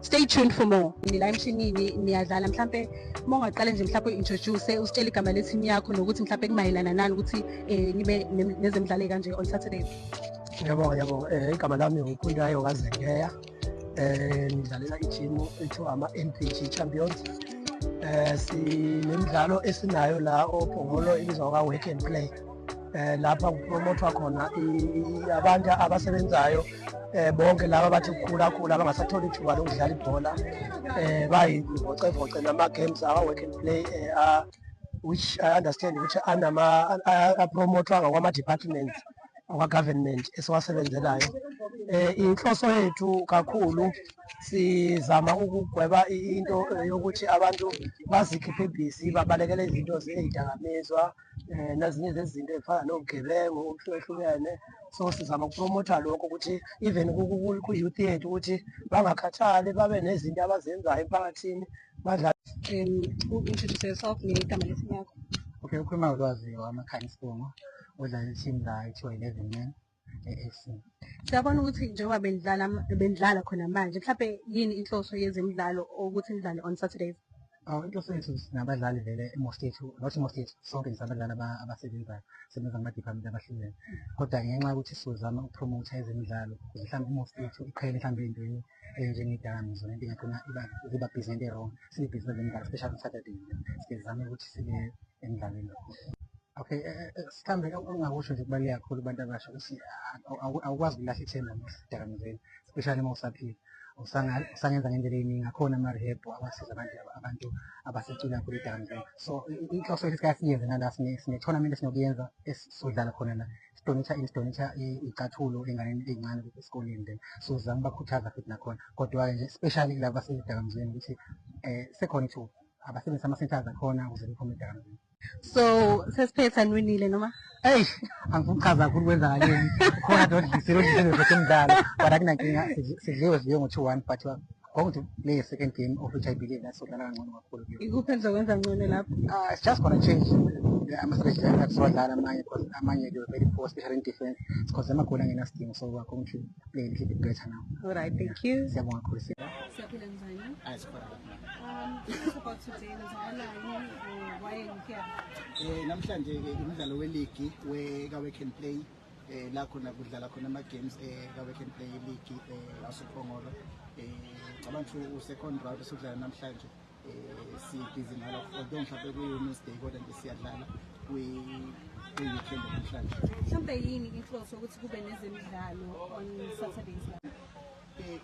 stay tuned for more nila emshinini niyadlala mhlampe uma ungaqale nje mhlawumpe introduce usitshele igama lethimu yakho nokuthi mhlawumpe kumayelana nani ukuthi um nibe nezemidlalo ekanje on saturday yabo yabo um eh, igama lami ngukhundayo kazengeya um eh, ngidlalela ithimu ethiwa ama-n p g champions um sinemidlalo esinayo la ophongolo ibizwa kwa-work and play eh lapha kupromothwa khona abantu abasebenzayo eh bonke laba bathi kukhula khula abangasatholi ithuba lokudlala ibhola eh bayivocavoce nama games awa work and play eh uh, which i understand ukuthi anama apromothwa ngama departments akwa government esiwasebenzelayo eh inhloso yethu kakhulu sizama ukugweba into yokuthi abantu bazikhiphe busy babalekele izinto zezidakamizwa um nezinye zezinto ezifana nobugebengu okuhlukehlukene so sizama ukupromotha lokho ukuthi even ku-youth yethu ukuthi bangakhathali babe nezinto abazenzayo emphakathini badlale introduce yourself negama lesimu yakho okay ukhuluma ulwazi wamakhanya isibongo udlala i-team la kuthiwa eleven men Siyabona ukuthi njengoba benidlala benidlala khona manje mhlawumbe yini inhloso yezemidlalo ukuthi nidlale on Saturdays? Awu inhloso yethu sinabadlali vele i-most yethu not i-most yethu sonke nje abadlali aba- abasebenzayo sebenza kuma-department abahlukene kodwa ngenxa yokuthi sizozama ukupromotha ezemidlalo ukuze mhlawumbe i-most yethu iqhele mhlawumbe entweni enjengedakamizwa nento ingagcina iba- ziba busy nento e-wrong sibe busy kwezemidlalo especially on Saturday sike sizame ukuthi sibe emdlalweni. Okay, eh, eh, eh, mhlawumbe engingakusho nje kubaluleke kakhulu kubantu abasha ukuthi awu- awu- awukwazi ukulahla ithemba edakamizweni especially uma usaphila Usanga- usangenza ngendlela eyiningi akhona ama-rehab awasiza abantu abantu abasecula kakhulu edakamizweni so i- i- inhloso yethu sika siyenze nala sine- sine-tournament esinokuyenza esizodlala khona la sidonitha ini sidonitha i- icathulo enganeni eyincane ukuthi esikoleni then so sizama ukubakhuthaza futhi nakhona kodwa-ke nje especially kulaba basezidakamizweni ukuthi um sekhona ithuba abasebenzise ama-centers akhona ukuze bephume edakamizweni so sesiphetha niwinile noma eyi angikuchaza kakhulu kwenzakaleni khona dodlisile odlisile zethu umdlalo but akunankinga sidliwe sidliwe ngo-two one but going to play a second game of which i believe that's odlala kangcono kakhulu ikuphi enizokwenza ngcono lapho uh, it's just gonna change ama-strategy that siwadlala amanye because amanye they were very poor especially in defense because amagoli angenasidingo so we're going to play a little bit better now all right thank you siyabonga kakhulu siyaphila njani Eh namhlanje ke umdlalo weligi we ka Wake and Play eh la khona kudlala khona ama games eh ka Wake and Play league eh lasoPhongolo eh cabanga ukuthi u second round esudlala namhlanje eh si busy ngalo kodwa mhlawumbe kuyi Wednesday kodwa nje siyadlala kwi kwi weekend namhlanje mhlawumbe yini inhloso ukuthi kube nezemidlalo on Saturdays Eh,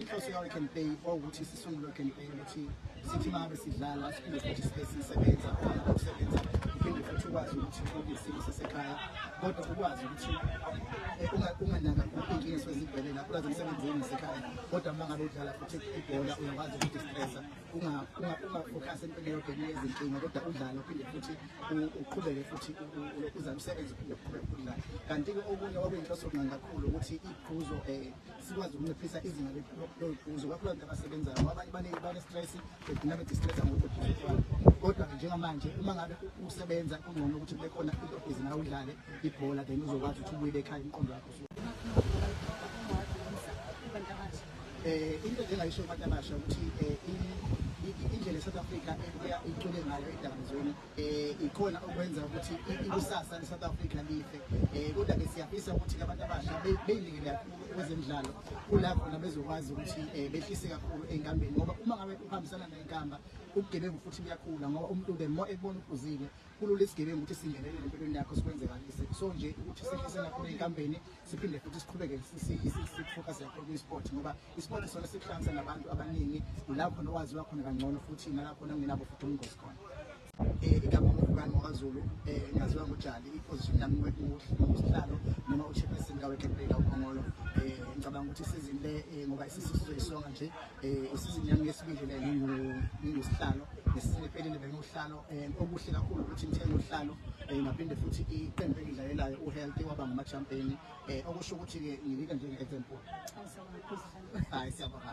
inhloso yawo can pay okuthi sisungulwe can pay ukuthi sithi uma ngabe sidlala siphinde futhi sibe sisebenza ukusebenza uphinde futhi ukwazi ukuthi uke isimo sasekhaya kodwa ukwazi ukuthi eh, unganaka inkinga esuke zibhele lapho ulazi umsebenzi wenu nasekhaya kodwa uma ngabe udlala futhi ibhola uyakwazi ukudistressa ungafokhasi empini eyodwa enye yezinkinga kodwa udlale uphinde futhi uqhubeke futhi uzame usebenze uphinde uqhubeke udlale kanti-ke okunye okuyinhloso kunga kakhulu ukuthi iphuzo um eh, sikwazi ukunciphisa izinga loliphuzo kakhulukazi abasebenzayo abanye baningi bane-stress begcina bedistressa ngokuphuzo kodwa njengamanje uma ngabe usebenza kungcono ukuthi kube khona into ebhizi nawe udlale ibhola then uzokwazi ukuthi ubuyele ekhaya umqondo wakho eh into engayisho abantu abasha ukuthi eh, indlela eSouth Africa ebuya icule ngayo edakamizweni eh ikhona okwenza ukuthi ikusasa leSouth Africa life eh kodwa ke siyafisa ukuthi abantu abasha beyilingele kakhulu kwezemidlalo kulapho nabezokwazi ukuthi eh, behlise kakhulu enkambeni ngoba uma ngabe uhambisana nenkamba ubugebengu futhi buyakhula ngoba umuntu ke mo ekubona uphuzile kulula isigebengu ukuthi singenelele empilweni yakho sikwenzekalise so nje ukuthi sihlise nakho ney'nkambeni siphinde futhi siqhubeke sifocus yakho kwi-sport ngoba i-sport isona sikuhlanganisa nabantu abaningi la khona owaziwa khona kangcono futhi nalakhona kungenabo futhi ubungozi khona eh, igama ngubani wakazulu um eh, ngaziwa ngojali iposition yami usihlalo noma uchairperson kawekebreka ukhongolo um eh, ngicabanga ukuthi isizini le ngoba isisizo isonga nje Eh, isizini yami yesibili le ngingusihlalo ngesizini ephelile bengiwuhlalo um eh, okuhle kakhulu ukuthi ngithenge uhlalo um eh, ngaphinde futhi iqembu engidlalelayo uhealthy waba ngamachampeni um okusho ukuthi-ke nginika njenge-example hayi siyabonga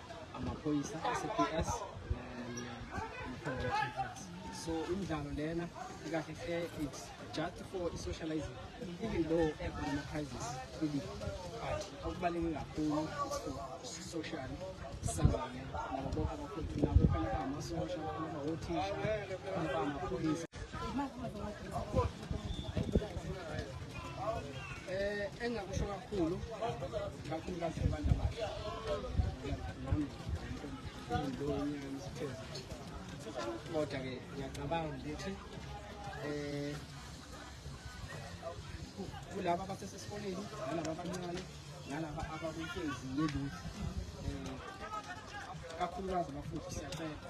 amaphoyisa asePS so imidlalo lena ikahle hle it's just for i-socializing even though ekhona ama-prizes kwi-league but okubaluleke kakhulu social sangane nabo bonke abakhontu nabo khona bamasosha khona bawothisha khona bamaphoyisa Eh engakusho kakhulu kakhulu kasebantu abasha. Nami ngiyibonye umsebenzi. Kodwa ke ngiyacabanga ukuthi eh kulaba abasesesikoleni nalaba abancane nalaba abakunkezi yeluthi um kakhulukazi abafundi siyacela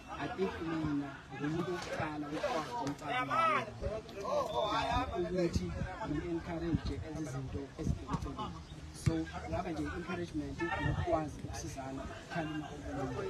I think mina ngumuntu wokuqala ukwazi umcabanga ukuthi ngi-encourage ezi zinto ezidinga so ngaba nje encouragement nokukwazi ukusizana khalima omunye